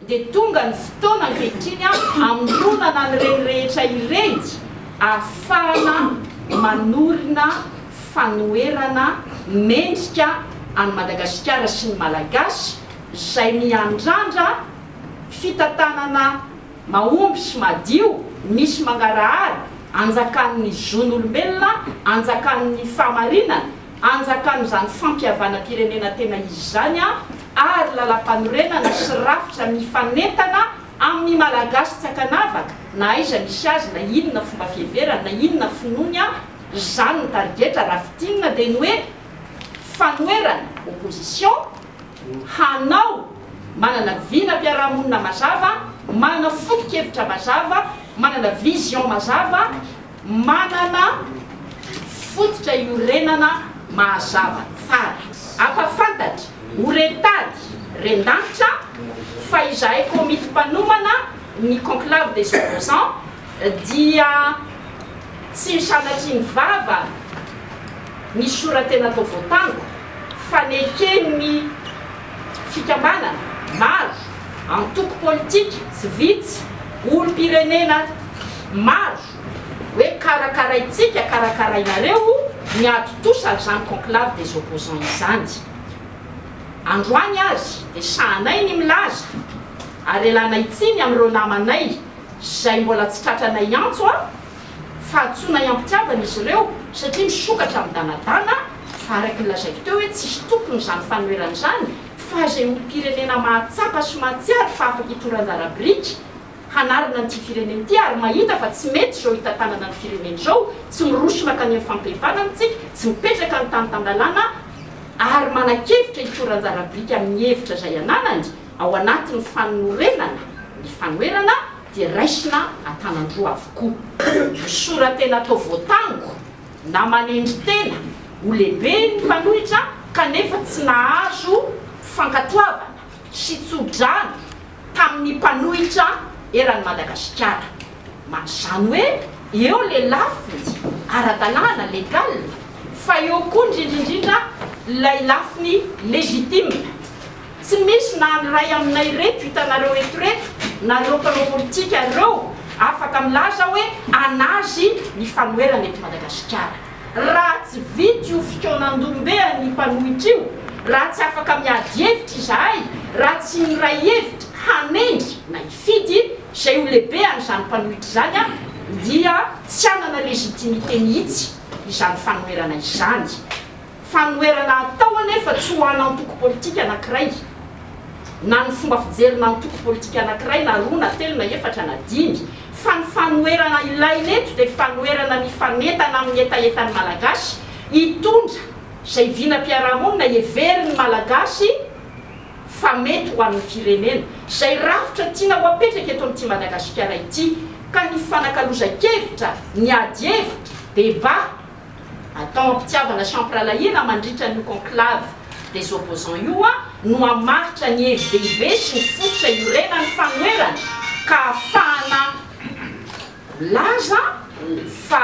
dia tonga ny fotoana ankehitriny hamoronana an'ireny rehetra ireny ahafahana manorina fanoherana mendrika an'i Madagasikara sy ny Malagasy izay miandrandra fitantanana mahomby sy madio misy mangarahara, anjakan'ny zon'olombelona, anjakan'ny fahamarinana. anjakan'izany fampihavanam-pirenena tena izy izany ary lalampanorenana sy rafitra mifanentana amin'ny Malagasy tsy ankanavaka na aiza misy azy na inona fomba fiheverany na inona finoany izany ny tarigetra raha fintinina dia ny hoe fanoherana opposition hanao manana vinam-piarahamonina mazava manana foto-kevitra mazava manana vision mazava Manana fototra iorenana mahazava tsara. Ampahafantatry ho rentady rendanitra fa izahay komity mpanomana ny Conclave des Opposants dia tsy sanatria ny vava ny sora-tena atao voatango, fa neken'ny fikambanana maro, antoko politika tsy vitsy, olom-pirenena maro hoe karakaraintsika, karakarainareo ny haditosa izany conclave des opposants izany. Androany aza dia sahanay ny milaza ary elanay tsiny amin'ireo namanay izay mbola tsy tratranay antso. Fahadisoana iam-pitiavana izy ireo satria misokatra midanadana fa araka ny lazaiko teo hoe tsisy tompony izany fanoherana izany fa izay olom-pirenena mahatsapa sy mahatsiaro fa afaka itoran-dara biriky hanarina an'ity firenena ity ary mahita fa tsy mety izao hitantanana ny firenena izao tsy miroso mankany amin'ny fampihevanana isika tsy mipetraka ny tany tan-dalàna ary manakevitra hitoran-jara biriky amin'ny hevitra izay ananany ao anatin'ny fanorenana ny fanoherana dia raisina an-tanan-droa avokoa. Misora-tena atao voatango na manendry tena ho lehibe ny mpanohitra kanefa tsy nahazo fankatoavana sy tso-drano tamin'ny mpanohitra eran'i Madagasikara. Izany hoe eo ilay lafiny ara-dalàna, legal, fa eo koa indrindra indrindra ilay lafiny legitime. Tsy misy na ny iray aminay ireto hitanareo eto ireto na ireo mpanao politika ireo afaka milaza hoe an'azy ny fanoherana eto Madagasikara. Raha tsy vita io fikaonan-dohombean'ny mpanohitra io, raha tsy afaka miady hevitra izahay, raha tsy miray hevitra hanendry na hifidy izay ho lehibehan'izany mpanohitra izany dia tsy hanana légitimité mihitsy izany fanoherana izany. Fanoherana atao anefa tsy ho an'antoko politika anankiray, na ny fomba fijerina antoko politika anankiray na roa na telo na efatra na dimy, fa ny fanoherana ilaina eto dia fanoherana mifanentana amin'ny hetahetan'ny Malagasy hitondra izay vinam-piarahamonina heverin'ny Malagasy fa mety ho an'ny firenena, izay rafitra tiana ho apetraka eto amin'ity Madagasikara ity, ka ny fifanakalozan-kevitra, ny ady hevitra, débat, atao am-pitiavana sy am-pirahalahiana mandritra an'io conclave des opposants io no hamaritra ny hevi dehibe sy ny fototra iorenan'ny fanoherana ka hahafahana milaza fa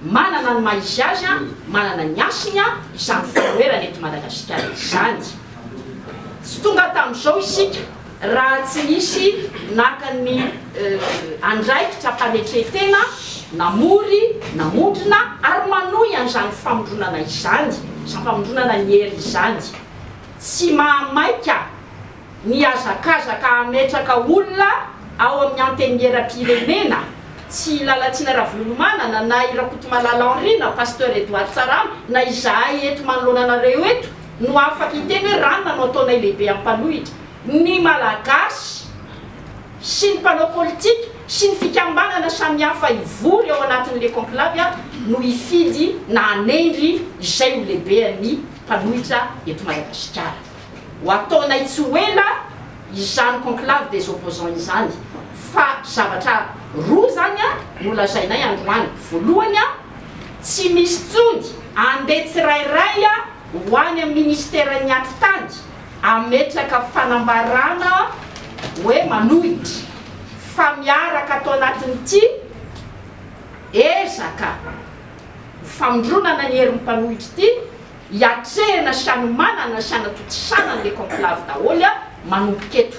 manana ny maha izy azy, manana ny hasiny izany fanoherana eto Madagasikara izany. Tsy tonga tamin'izao isika. Raha tsy nisy naka ny andraikitra hampanetre-tena, namory, namondrona ary manohy an'izany famondronana izany, izany famondronana ny hery izany, tsy mahamaika ny hazakazaka hametraka olona ao amin'ny Antenimieram-pirenena, tsy i Lalatsina Ravolomanana na i Rakotomalala Henri na Pasteur Edouard Tsaramy na izahay eto manoloana anareo eto, no afaka hiteny hoe ranona no ataonay lehibe ampanohitra ny Malagasy sy ny mpanao politika sy ny fikambanana samihafa hivory ao anatin'ny Le Conclave no hifidy na hanendry izay ho lehibean'ny mpanohitra eto Madagasikara. Ho ataonay tsy ho ela izany Conclave des Opposants izany fa zavatra roa izany no lazainay androany, voalohany, Tsy misy tsony andeha tsirairay ho any amin'ny ministeran'ny atitany ametraka fanambarana hoe manohitra fa miaraka ato anatin'ity ezaka ho famindronana ny herin'ny mpanohitra ity hiatrehina sy hanomanana sy hanatontosana ny le conclave daholo manomboka eto.